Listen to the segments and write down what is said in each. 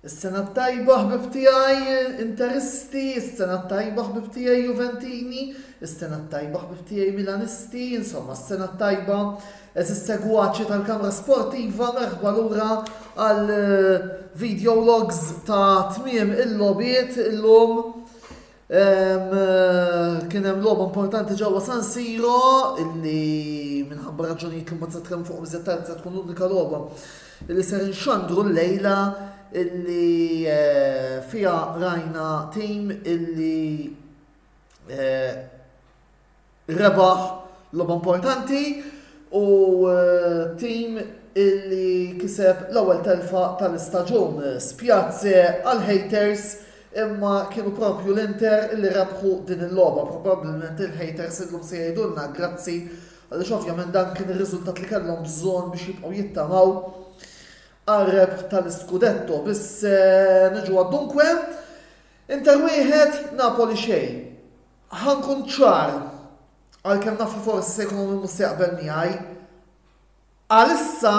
Is-sena tajba ħbib tiegħi Interisti, is-sena tajba ħbib tiegħi Juventini, is-sena tajba ħbib tiegħi Milanisti, insomma s-sena tajba Għeżiż segwaċi tal-kamra sportiva merħba lura għal video logs ta' tmiem il-lobiet illum. Kien hemm logħba importanti ġewwa San Siro illi minħabba raġunijiet li ma se tkellem fuq iżjed tard se tkun l-unika logħba illi ser inxandru l-lejla illi eh, fija rajna tim illi eh, Rebaħ logħba importanti u tim illi kiseb l-ewwel telfa tal-istaġun. Spjazze għal-haters imma kienu propju l-Inter li rebħu din il-logħba. Probabbilment il-haters illum se jgħidulna grazzi għaliex ovvjament dan kien ir-riżultat li kellhom bżonn biex jibqgħu jittamaw għal-rebħ tal-Scudetto. Biss eh, niġu għaddunkwe, Inter wieħed Napoli xejn. Ħa nkun ċar, għalkemm naf li forsi se jkun hawn min mhux se jaqbel miegħi, għalissa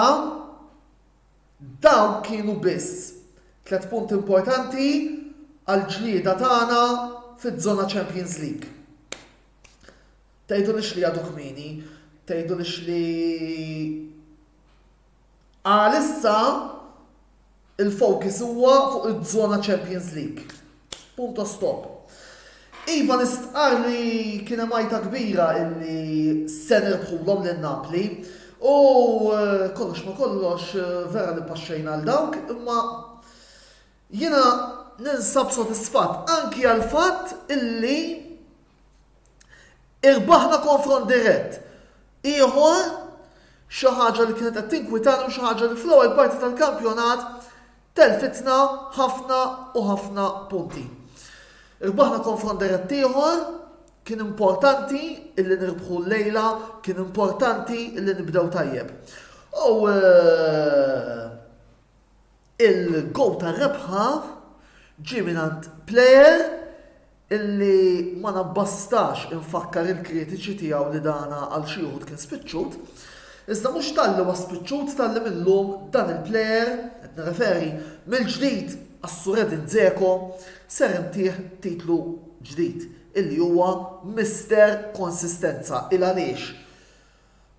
dawn kienu biss tliet punti importanti għall-ġlieda tagħna fiż-żona Champions League. Tgħidulix li għadu kmieni, tgħidulix li Għalissa il-focus huwa fuq iż-żona Champions League. Punto stop. Iva nistqar li kien hemm għajta kbira illi se nirbħulhom lil Napli u eh, kollox ma kollox eh, vera li paxxejna għal dawk imma jiena ninsab sodisfatt anki għal fatt illi Irbaħna konfront dirett ieħor, xi ħaġa li kienet qed tinkwitani u xi ħaġa li fl-ewwel parti tal-kampjonat telfitna ħafna u ħafna punti. Irbaħna konfront dirett ieħor, Kien importanti illi nirbħu l-lejla, kien importanti illi nibdew tajjeb. U eh, Il-gowl tar-rebħa ġie mingħand plejer illi ma nabbastax infakkar il-kritiċi tiegħu li dana għal xi uħud kien spiċċut, iżda mhux talli huwa spiċċut talli mil-lum dan il-plejer, qed nirreferi mill-ġdid għas-Sur Edin Dzeko, ser intih titlu ġdid illi huwa Mister Konsistenza. Il-għaliex?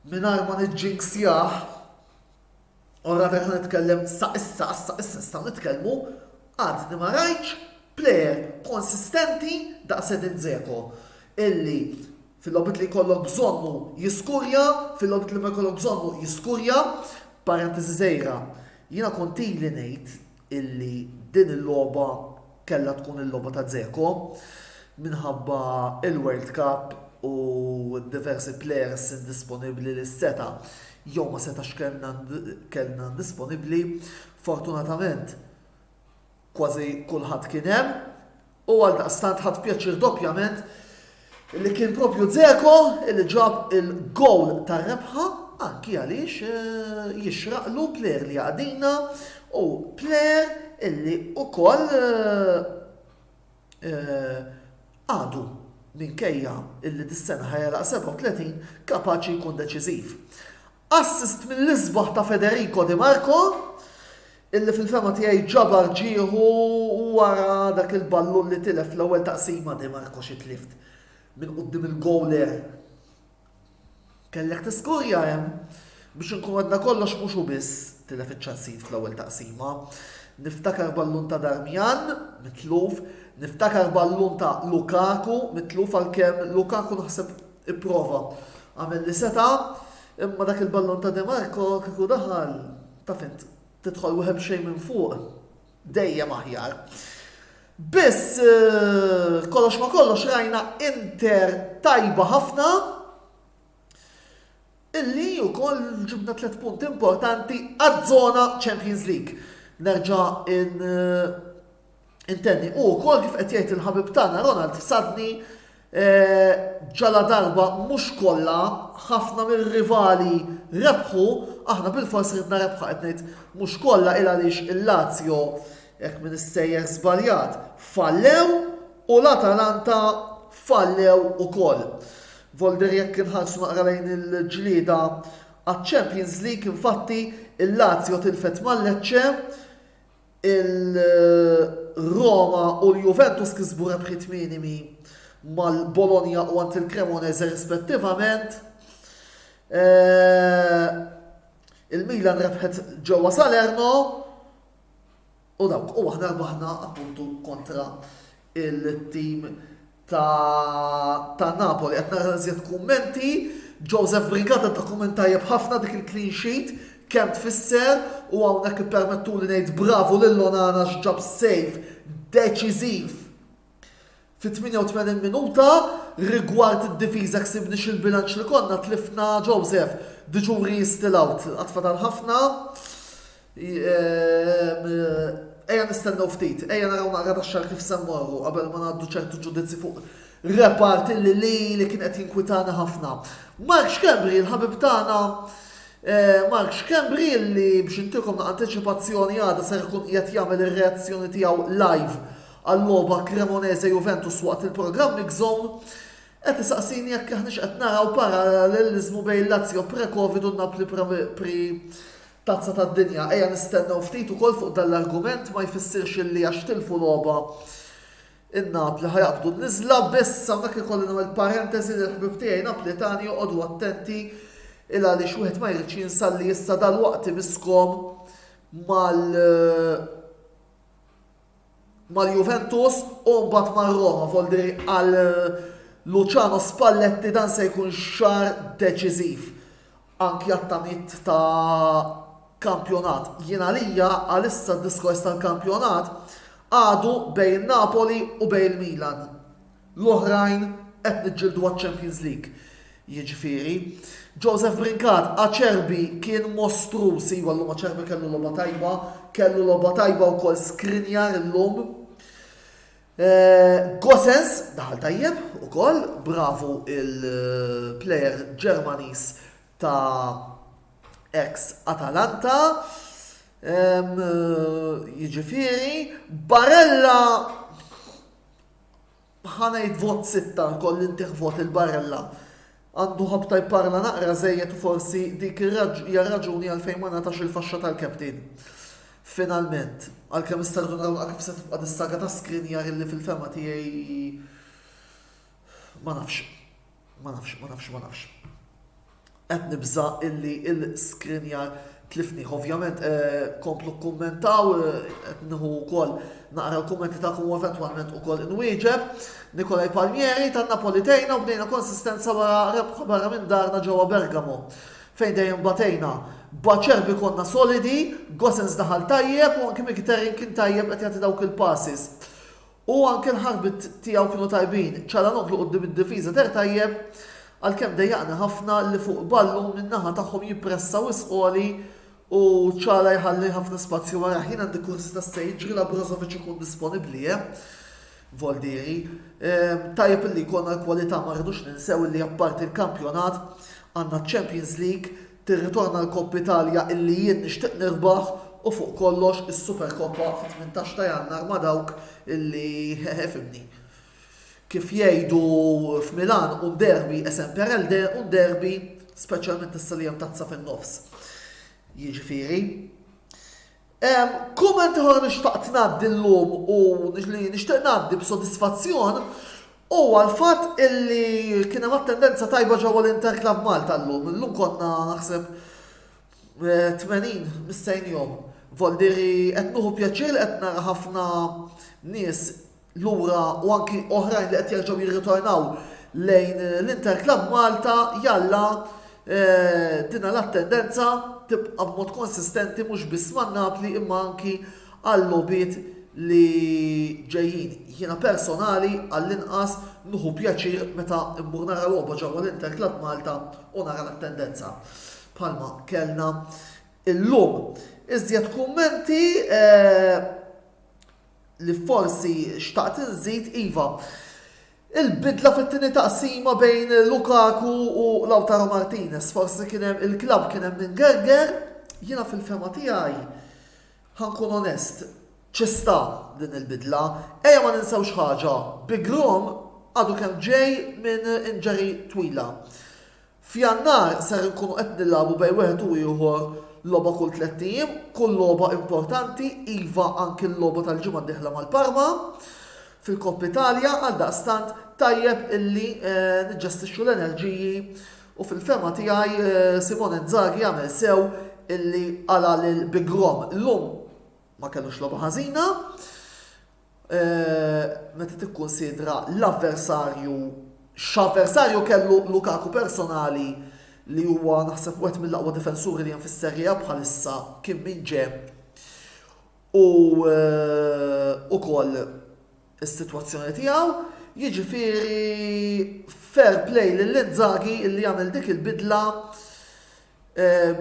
Mingħajr ma niġġinksjah, Ora fejn ħa nitkellem sa issa għax sa issa nistgħu nitkellmu, għadni ma rajtx plejer konsistenti daqs Edin Dzeko illi fil-logħbiet li jkollok bżonnu jiskurja, fil-logħbiet li ma jkollok bżonnu jiskurja, parentesi żgħira, jiena kont ili ngħid illi din il-logħba kellha tkun il-logħba ta' Dzeko minħabba l-World Cup u d-diversi plejers indisponibbli li seta' jew ma setax kellna kellna indisponibbli. Fortunatament kważi kulħadd kien hemm U għaldaqstant ħadt pjaċir doppjament li kien propju Dzeko li ġab il-gowl tar-rebħa anki għaliex eh, jixraqlu plejer li għadina u plejer illi ukoll eh, eh, għadu minkejja illi dis-sena ħajja 37 kapaċi jkun deċiżiv. Assist mill-isbaħ ta' Federico Di Marco, illi fil-fehma tiegħi ġabar ġieħu wara dak il-ballun li tilef fl-ewwel taqsima Di Marco xi tlift minn quddiem il-gowler. Kellek tiskurja hemm biex inkun għadna kollox mhux u biss tilef iċ-ċansijiet fl-ewwel taqsima. Niftakar ballun ta' Darmian mitluf, niftakar ballun ta' Lukaku mitluf għalkemm Lukaku naħseb Ipprova. Għamel li seta', imma dak il-ballun ta' Demarco kieku daħal, taf int, tidħol wieħed b'xejn minn fuq, dejjem aħjar. Biss eh, kollox ma kollox rajna Inter tajba ħafna, Illi wkoll ġibna tliet punti importanti għaż-żona Champions League. Nerġa' intenni. U wkoll kif qed jgħid il-ħabib tagħna Ronald Sadni eh, ġala darba mhux kollha ħafna mir-rivali rebħu, aħna bil-fors ridna rebħa qed ngħid mhux kollha il għaliex il-Lazio jekk minn issejjer żbaljat fallew u l-Atalanta fallew ukoll. Volder Jekk inħarsu naqra lejn il-ġlieda għaċ-Champions League, infatti, il-Lazio tilfet ma' Lecce, il-Roma u l-Juventus kisbu rebħiet minimi mal-Bologna u għand il-Cremonese rispettivament. Eh, Il-Milan rebħet ġewwa Salerno, u dawk u aħna rbaħna appuntu kontra il-tim ta' Napoli. Qed nara iżjed kummenti. Joseph Brigata ta' kumment tajjeb ħafna dik il-clean sheet kemm tfisser u hawnhekk ippermettuli ngħid bravu lil Onana x'ġab save deċiżiv Fit-88 minuta, rigward id-difiża ksibniex il-bilanċ li konna, tlifna Joseph, the jury is still out, għad fadal ħafna. Ejja nistennew ftit, ejja naraw naqra tax-xar kif se mmorru qabel ma ngħaddu ċertu ġudizzi fuq repart li li li kien qed jinkwitana ħafna. Mark Xkembri, il-ħabib tagħna, eh, Mark Xkembri li biex intilkom na' anticipazzjoni għada ser ikun qiegħed jagħmel ir-reazzjoni tiegħu live għal-logħba Cremonese-Juventus waqt il-programm Mix Zone, qed isaqsini jekk aħniex qed naraw paralleliżmu bejn Lazio pre-Covid u Napli pre Tazza tad-Dinja. Ejja nistennew ftit ukoll fuq dan l-argument ma jfissirx illi għax tilfu logħba in-Napli ħajaqbdu n-niżla biss hawnhekk ikolli nagħmel parenteżi li l-ħbib tiegħi Napletani joqogħdu attenti il għaliex wieħed ma jridx jinsalli issa dal-waqt imiskom mal mal-Juventus u mbagħad mar-Roma Volderi għal Luciano Spalletti dan se jkun xahar deċiżiv anki għat-tamiet ta' kampjonat. Jien għalija għalissa d-diskors tal-kampjonat għadu bejn Napoli u bejn il-Milan. L-oħrajn qed niġġieldu għaċ-Champions League. Jiġifieri, Joseph Brincat, Acerbi kien mostruż, iva llum Acerbi kellu logħba tajba, kellu logħba tajba wkoll Skriniar illum. Eh, Gosens daħal tajjeb ukoll, bravu il-plejer Ġermaniż ta' ex Atalanta. Eh, jiġifieri, Barella Ħa ngħid vot sitta nkolli ntih vot lil Barella. Għandu ħabta jparla naqra żejjed u forsi dik hija r-raġuni għalfejn ma ngħatax il-faxxa tal-captain. Finalment. Għalkemm is-Sardu naraw naqra kif se tibqa' dis-saga ta' Skriniar illi fil-fehma tiegħi ma nafx. Ma nafx, ma nafx, ma nafx. Qed nibża' illi l-iskrinjar tlifnih. Ovvjament, eh, komplu kkummentaw, eh, qed nieħu wkoll naqra l-kummenti tagħkom u eventwalment ukoll inwieġeb. Nikolaj Palmieri tan Napoli tejna u bnejna konsistenza wara rebħa barra minn darna ġewwa Bergamo fejn dejjem batejna. Baċerbi konna solidi, Gosens daħal tajjeb u anki Mkhitaryan kien tajjeb qed jagħti dawk il-passes. U anke l-ħarbit tiegħu kienu tajbin. Çalhanoğlu quddiem id-difiża deher tajjeb, għalkemm dejjaqni ħafna li fuq ballun min-naħa tagħhom jippressa wisq għoli u Çalha jħalli ħafna spazju warajh. Jien għandi kurżità se jiġri la Brozovic ikun disponibbli, eh? Voldieri. Ehm, tajjeb illi jkollna l-kwalità ma rridux ninsew illi apparti l-kampjonat għandna ċ-Champions League Tirritorna l-Coppa Italia illi jien nixtieq nirbaħ u fuq kollox is-Supercoppa fit-tmintax ta' Jannar ma' dawk illi he he fhimni. Kif jgħidu f'Milan un derby è semper elde, un derby, speċjalment issa li hemm tazza fin-nofs. Jiġifieri. Kumment ieħor li xtaqt ngħaddi llum u li nixtieq ngħaddi b'sodisfazzjon huwa l-fatt illi kien hemm attendenza tajba ġewwa l-Inter Club Malta llum. Illum konna naħseb 80 mistennijhom. Vol dire qed nieħu pjaċir li qed nara ħafna nies lura u anki oħrajn li qed jerġgħu jirritornaw lejn l-Inter Club Malta jalla eh, dina l-attendenza tibqa' b'mod konsistenti mhux biss man Napli imma anki għall-lobiet li ġejjin. Jiena personali għall-inqas nuħu pjaċir meta mmur nara logħba ġewwa l-Inter Club Malta u nara l-attendenza. Palma kellna illum. Iżjed kummenti eh, li forsi xtaqt inżid, iva, il-bidla fit-tieni taqsima bejn Lukaku u Lautaro Martinez, forsi kien hemm il-klabb kien hemm min gerger, jiena fil-fehma tiegħi ħa nkun onest, ci sta din il-bidla. Ejja ma ninsewx ħaġa, Bigrom għadu kemm ġej minn injury twila. F'Jannar ser inkunu qed nilagħbu bejn wieħed u ieħor logħba kull tlett ijiem, kull logħba importanti, iva anki l-logħba tal-ġimgħa d-dieħla mal-Parma fil-Coppa Italia, għaldaqstant tajjeb illi niġġestixxu l-enerġiji u fil-fehma tiegħi Simone Inzaghi għamel sew illi qala' lil Big Rom. Illum ma kellux logħba ħażina. meta tikkunsidra l-avversarju, x'avversarju kellu Lukaku personali li huwa naħseb wieħed mill-aqwa difensuri li hemm fis-Serie A bħalissa kien min ġie u ukoll is-sitwazzjoni tiegħu. Jiġifieri fair play lil Inzaghi li għamel dik il-bidla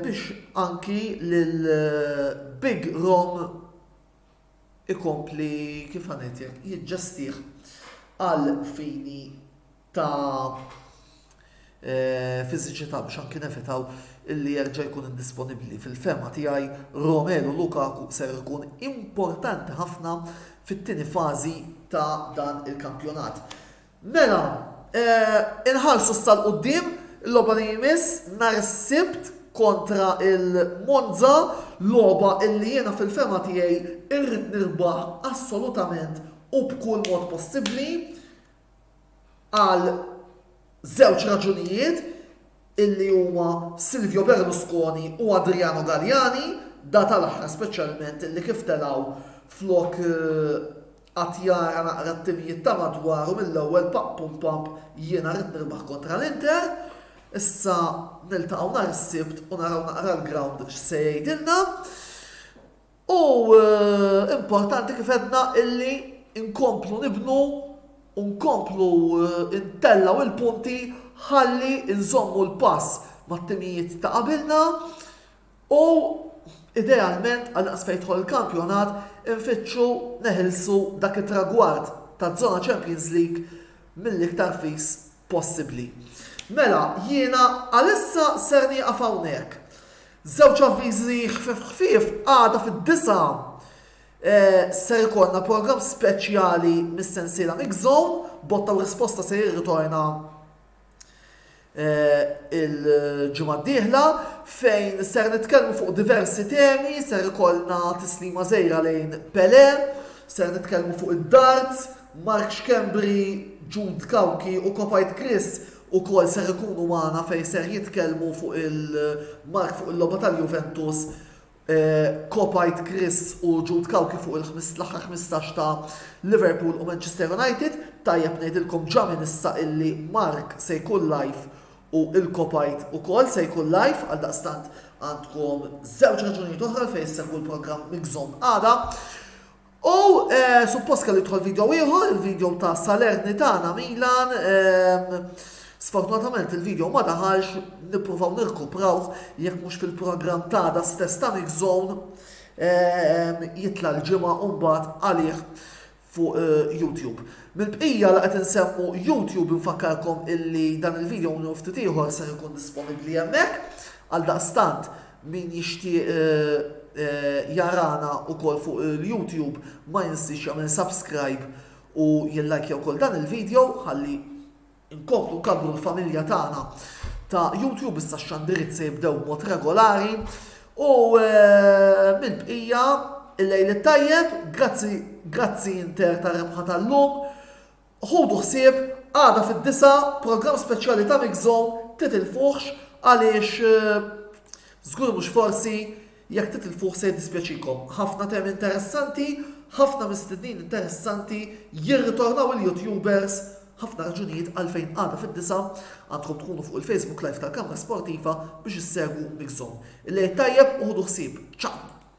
biex anki lil Big Rom ikompli, kif ħa ngħidlek, jiġġestih għal fini ta' fiżiċità biex anki nevitaw illi jerġa' jkun indisponibbli. Fil-fehma tiegħi Romelu Lukaku ser ikun importanti ħafna fit-tieni fażi ta' dan il-kampjonat. Mela, inħarsu issa 'l quddiem, il-logħba li jmiss nhar is-Sibt kontra l-Monza, logħba illi jiena fil-fehma tiegħi rrid nirbaħ assolutament u b'kull mod possibbli għal żewġ raġunijiet illi huma Silvio Berlusconi u Adriano Galliani, da tal-aħħar speċjalment illi kif telgħu flok Qatt jara naqra t-timijiet ta' madwaru mill-ewwel pump pump pump jiena rrid nirbaħ kontra l-Inter, issa niltaqgħu nhar is-Sibt u naraw naqra l-ground x'se jgħidilna. U importanti kif għedna illi nkomplu nibnu u nkomplu ntellgħu il-punti ħalli nżommu l-pass mat-timijiet ta' qabilna U idealment għal daqs fejn jidħol il-kampjonat infittxu neħilsu dak it-tragward taz-zona Champions League mill-iktar fis possibbli. Mela, jiena għalissa ser nieqaf hawnhekk. Żewġ avviżi ħfif ħfief għada fid-disa' eh, ser ikollna programm speċjali mis-sensiela Mix Zone, botta u risposta se jirritorna il-ġimgħa d-dieħla fejn ser nitkellmu fuq diversi temi, ser ikollna tislima żejra lejn Pele, ser nitkellmu fuq id-darts, Mark Xkembri, Jude Kawki u Kopajt Chris u kol ser ikunu maħna fejn ser jitkellmu fuq il-mark fuq il-loba tal-Juventus Kopajt Chris u Jude Cauchi fuq l-aħħar ħmistax ta' Liverpool u Manchester United, tajjeb ngħidilkom ġa minn issa illi Mark se jkun live u il-Kopajt ukoll se jkun live għaldaqstant għandkom żewġ raġunijiet oħra għalfejn issegwu l-programm migżomm għada. U suppost kellu jidħol video ieħor, il-video ta' Salernitana Milan. Sfortunatament il-video ma daħalx nippruvaw nirkupraw jekk mhux fil-programm ta' da stess ta' Mix Zone jitla l-ġimgħa u mbagħad għalih fuq eh, YouTube. Mill-bqija li qed insemmu YouTube infakkarkom illi dan il-video u ftit ieħor se jkun disponibbli hemmhekk għal daqstant Min jixtieq jarana ukoll fuq il-YouTube ma jinsiex jagħmel subscribe u jillajkja wkoll dan il-video ħalli nkomplu nkabbru l-familja tagħna ta' YouTube issa x-xandiriet se jibdew b'mod regolari u mill-bqija il-lejl it-tajjeb, grazzi grazzi Inter tar-rebħa tal-lum Ħudu ħsieb għada fid-disgħa programm speċjali ta' Mix Zone Titilfuhx għaliex żgur mhux forsi jekk titilfuh se jiddispjaċikom. Ħafna temi interessanti, ħafna mistednin interessanti, jirritornaw il-YouTubers, ħafna raġunijiet għalfejn għada fid-disgħa għandkom tkunu fuq il-Facebook Live tal-Kamra Sportiva biex issegwu Mix Zone. Il-lejl tajjeb u ħudu ħsieb. Ciao!